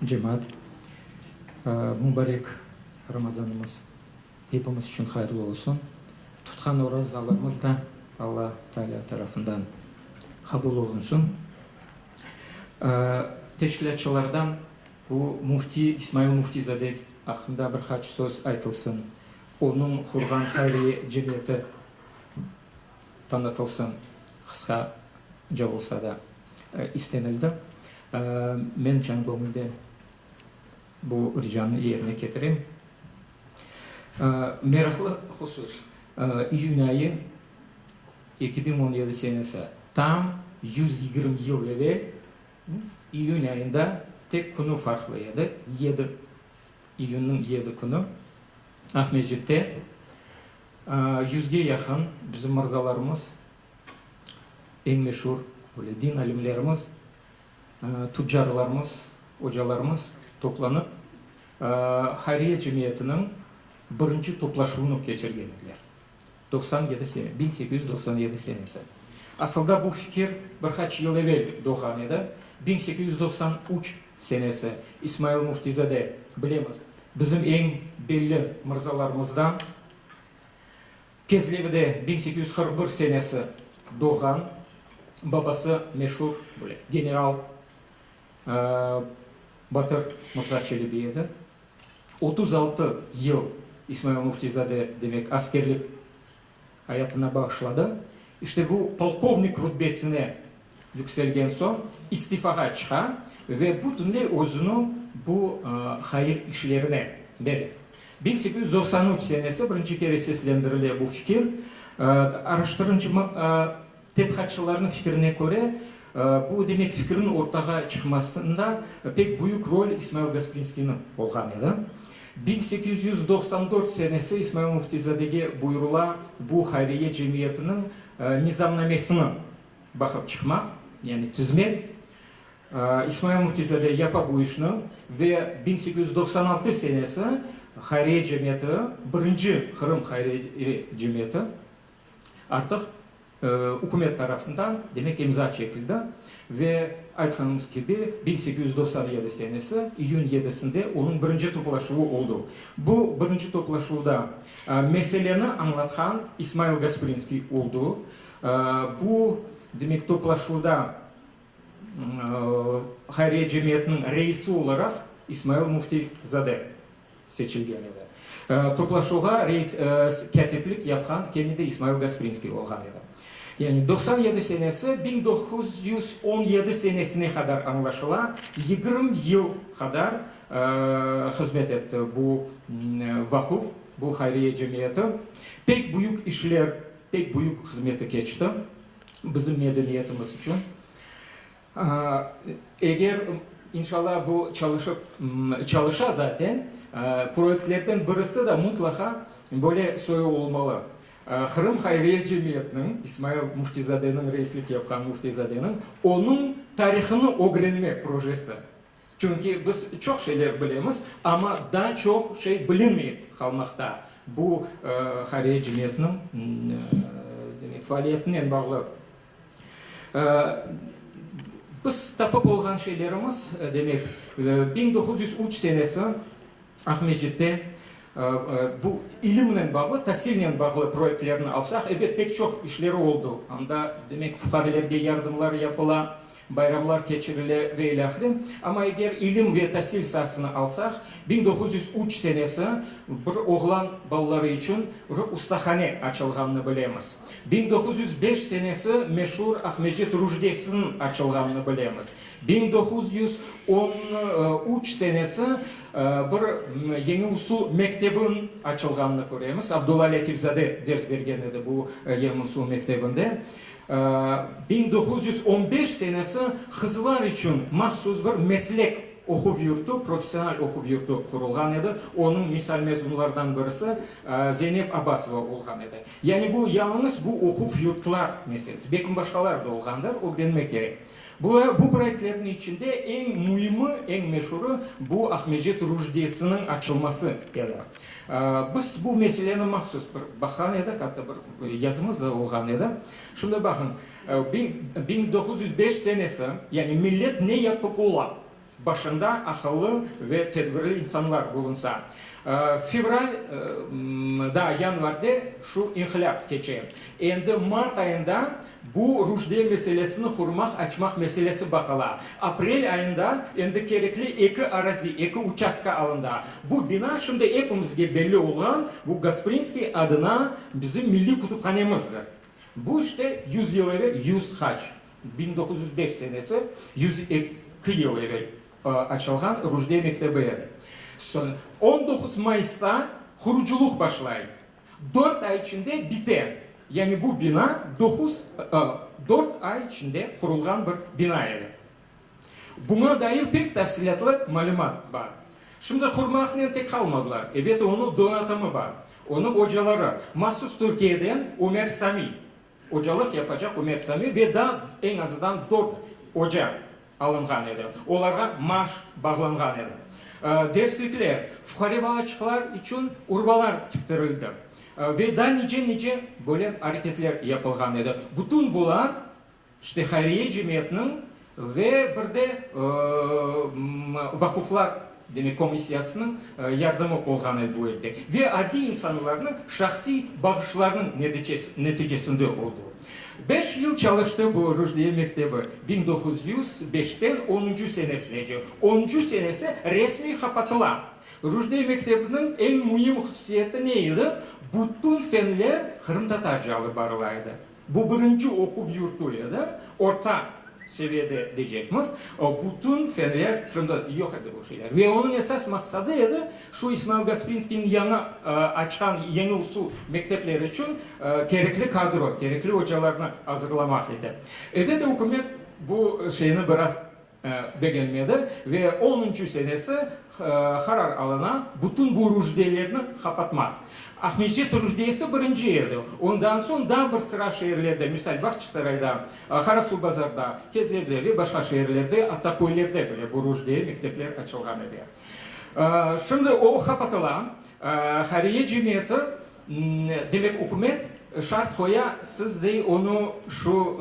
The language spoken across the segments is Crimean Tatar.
Cemaat, mübarek Ramazanımız epimiz içün hayırlı olsun. Tutqan orazalarımız da Alla Taalâ tarafından qabul olunsın. Teşkilâtçılardan bu müfti, İsmail Müftizade aqqında bir qaç söz aytılsın. Onıñ qurğan hayriye cemiyeti. Tanıtılsın, qısqa ce olsa da, istenildi. Men can göñülden bu ricanı yerine ketirem. Meraqlı husus, iyün ayı eki biñ on yedi senesi, tam yüz yigirmi yıl evel iyün ayında, tek künü farqlı edi, yedi, iyünniñ yedi künü, Aqmescitte Yüzge yaqın bizim mırzalarımız, eñ meşur böyle din alimlerimiz, tüccarlarımız, ocalarımız toplanıp, hayriye cemiyetiniñ birinci toplaşuvını keçirgen ediler, doqsan yedi sene, biñ sekiz yüz doqsan yedi senesi. Asılda bu fikir bir qaç yıl evel doğğan edi, biñ sekiz yüz doqsan üç. Senesi, İsmail Müftizade, bilemiz, bizim eñ belli mırzalarımızdan, Kezlevide biñ sekiz yüz qırq bir senesi doğğan, babası meşur böyle general Batır Mırza Çelebi edi. Otuz altı yıl İsmail Müftizade, demek, askerlik ayatına bağışladı. İşte bu polkovnik rütbesine yükselgen soñ istifağa çıqa ve bütünley özüni bu hayır işlerine bere. Biñ sekiz yüz doqsan üç senesi birinci kere seslendirile bu fikir. Araştırıncımız. Tedqiqatçılarnıñ fikirine köre, bu demek fikirniñ ortağa çıqmasında pek büyük rol İsmail Gasprinskiyniñ olğan edi. Biñ sekiz yüz doqsan dört senesi İsmail Müftizadege buyurula bu hayriye cemiyetiniñ nizamnamesini baqıp çıqmaq, yani tizmek. İsmail Müftizade yapa bu işni ve biñ sekiz yüz doqsan altı senesi hayriye cemiyeti, birinci Qırım hayriye cemiyeti, Artıq ükümet tarafından, demek, imza çekildi ve aytqanımız kibi, biñ sekiz yüz doqsan yedi senesi iyün yedisinde onıñ birinci toplaşuvı oldu. Bu birinci toplaşuvda meseleni añlatqan İsmail Gasprinskiy oldu. Bu, demek, toplaşuvda hayriye cemiyetiniñ reisi olaraq İsmail Müftizade. seçilgen edi. Toplaşuvğa reis kâtiplik yapqan kene de İsmail Gasprinskiy olğan edi. Yani doqsan yedi senesi biñ doquz yüz on yedi senesine qadar añlaşıla, yigirmi yıl qadar hızmet etti bu vaquf, bu hayriye cemiyeti. Pek büyük işler, pek büyük hızmeti keçti bizim medeniyetimiz içün. Eger, inşalla, bu çalışıp, çalışa zaten, proyektlerden birisi de mutlaqa böyle soyu olmalı. Qırım hayriye cemiyetiniñ, İsmail Müftizadeniñ reislik yapqan Müftizadeniñ onıñ tarihını ögrenmek projesi. Çünki biz çoq şeyler bilemiz, amma daa çoq şey bilinmey qalmaqta bu hayriye cemiyetiniñ, demek, faaliyetinen bağlı. Biz tapıp olğan şeylerimiz, demek, biñ doquz yüz üç senesi Aqmescitte bu ilimnen bağlı, tasilnen bağlı proyektlerni alsaq, ebet, pek çoq işleri oldu. Anda, demek, fuqarelerge yardımlar yapıla, Bayramlar keçirile ve ile ahire. Amma eger ilim ve tasil saasını alsaq, biñ doquz yüz üç senesi bir oğlan balaları içün bir ustahane açılğanını bilemiz. Biñ doquz yüz beş senesi meşur Aqmescit Rujdesiniñ açılğanını bilemiz. Biñ doquz yüz on üç senesi bir yeñi usul mektebiniñ açılğanını köremiz. Abdulla Lâtifzade ders bergen edi bu yeñi usul mektebinde. Biñ doquz yüz on beş senesi qızlar içün mahsus bir meslek oquv yurtu, professional oquv yurtu qurulğan edi, onıñ misal mezunlardan birisi Zeynep Abbasova olğan edi. Yani bu yalıñız bu oquv yurtlar meselesi, belkim başqalar da olğandır, ögrenmek kerek. Bu bu proyektlerniñ içinde eñ müimi, eñ meşurı bu Aqmescit Rujdesiniñ açılması edi. Biz bu meseleni mahsus bir baqan edik, atta bir yazımız da olğan edi. Şimdi baqıñ, biñ doquz yüz beş senesi, yani millet ne yapıp ola, başında aqıllı ve tedbirli insanlar bulunsa. Fevral, daa yanvar de şu inqilâp keçe. Endi mart ayında Bu Rujde meselesini hurmaq açmaq meselesi baqıla. Aprel ayında endi kerekli eki arazi, eki uçastka alında. Bu bina şimdi epimizge belli olğan bu Gasprinskiy adına bizim milliy kütüphanemizdir. Bu işte yüz yıl evel, yüz haç, biñ doquz yüz beş senesi, yüz eki yıl evel açılğan Rujde mektebi edi. Soñ on doquz mayısta qurucılıq başlay. Dört ay içinde bite. Yani bu bina doquz, dört ay içinde qurulğan bir bina edi. Buña dair pek tafsilâtlı malümat bar. Şimdi qurmaqnen tek qalmadılar, ebet onı donatımı bar, onı ocaları, mahsus Türkiyeden Ömer Sami. Ocalıq yapacaq Ümer Sami ve daa eñ azıdan dört oca alınğan edi, olarğa maaş bağlanğan edi. Derslikler, fuqare balaçıqlar içün urbalar tiktirildi ve daa nice-nice böyle areketler yapılğan edi. Bütün bular, işte, hayriye cemiyetniñ Ve bir de vaquflar, demek, komissiyasınıñ yardımı olğan edi bu elde. Ve adiy insanlarnıñ şahsiy bağışlarınıñ neticesinde oldı. Beş yıl çalıştı bu Rüşdiye mektebi, biñ doquz yüz beşten onuncu senesinece. Onuncu senesi resmiy qapatıla. Rüşdiye mektebiniñ eñ müim hususiyeti ne edi? Bütün fenler qırımtatarca alıp barıla edi. Bu birinci oquv yurtu edi, orta seviyede decekmiz, bütün fenler Qırımda yoq edi bu şeyler. Ve onıñ esas maqsadı edi, şu İsmail Gasprinskiyniñ yañı açqan yeñi usul mektepleri içün kerekli kadro, kerekli ocalarnı azırlamaq edi. Elbette, ükümet bu şeyni biraz begenmedi ve onuncu senesi qarar alına bütün bu rüşdelerni qapatmaq. Aqmescit rüşdesi birinci edi, ondan soñ daa bir sıra şeerlerde, misal, Bağçasarayda, Qarasuvbazarda, Kezlevde ve başqa şeerlerde, atta köylerde bile bu rüşdeye mektepler açılğan edi. Şimdi o qapatıla. Hayriye cemiyeti, demek, ükümet şart qoya, siz dey onı şu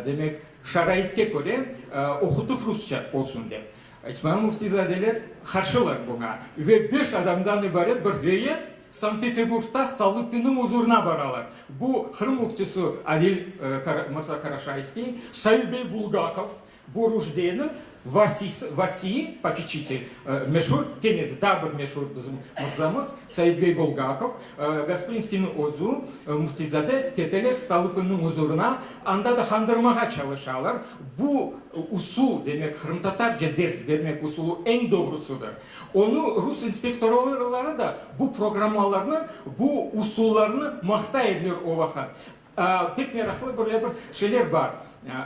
Demek, şaraitke köre oqutuv rusça olsun dep. İsmail Müftizadeler qarşılar buña ve beş adamdan ibaret bir heyet Sankt-Peterburgda Stolupinniñ uzurına baralar. Bu Qırım Müftisi Adil Mirza Karaşayskiy, Said bey Bulgakov, Bu Rujde'niñ vasisi, vasiyi, popiçitel, meşur ten edi, daa bir meşur bizim mırzamız, Saidbey Bulgakov, Gasprinskiyniñ özü, Müftizade keteler Stolıpinniñ uzurına, anda da qandırmağa çalışalar. Bu usul, demek, qırımtatarca ders bermek usulı eñ doğrusıdır. Onı rus inspektorları da bu programmalarnı, bu usullarnı maqtay ediler o vaqıt. Pek meraqlı böyle bir şeyler bar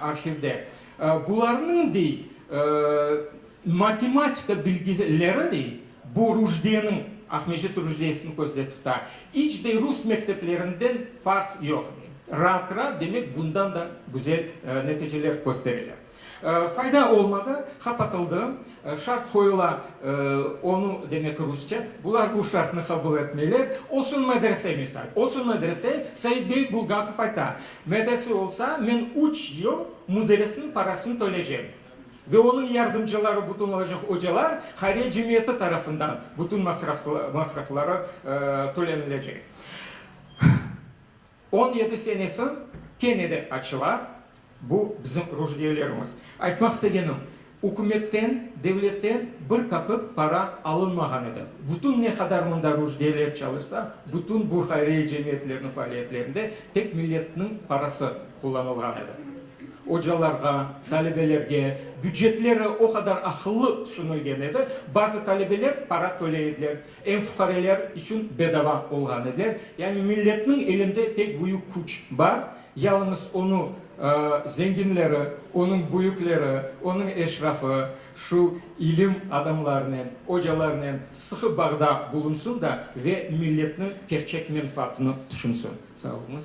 arhivde. Bularnıñ, dey, matematika bilgileri, dey, bu Rujdeniñ, Aqmecit Rujdesini közde tuta, iç de rus mekteplerinden farq yoq, dey. Raat-raat, demek, bundan da güzel neticeler köstereler. Fayda olmadı, hap atıldı. Şart qoyula, onu, demek rusçe, bular bu şartnı qabul etmeyler, olsun medrese misal, olsun medrese, Seit bey Bulgakov ayta, medrese olsa, men üç yıl müderisniñ parasını töleycegim ve onıñ yardımcıları bütün olacaq, ocalar hayriye cemiyeti tarafından bütün masrafları tölenilecek. On yedi sene soñ kene de açıla, bu bizim ruhdiyelerimiz. Aytmaq istegenim, ükümetten, devletten bir kapik para alınmağan edi. Bütün ne qadar mında ruhdiyeler çalışsa, bütün bu hayriye cemiyetlerniñ faaliyetlerinde tek milletniñ parası qullanılğan edi. Ocalarğa, talebelerge, bücetleri o qadar aqıllı tüşünilgen edi, bazı talebeler para töley ediler, Ev fuqareler içün bedava olğan edi. Yani milletniñ elinde pek büyük küç bar, yalıñız onı zenginleri, onıñ büyükleri, onıñ eşrafı şu ilim adamlarınen, ocalarınen sıqı bağda bulunsın da ve milletniñ kerçek menfaatını tüşünsin. Sağ oluñız.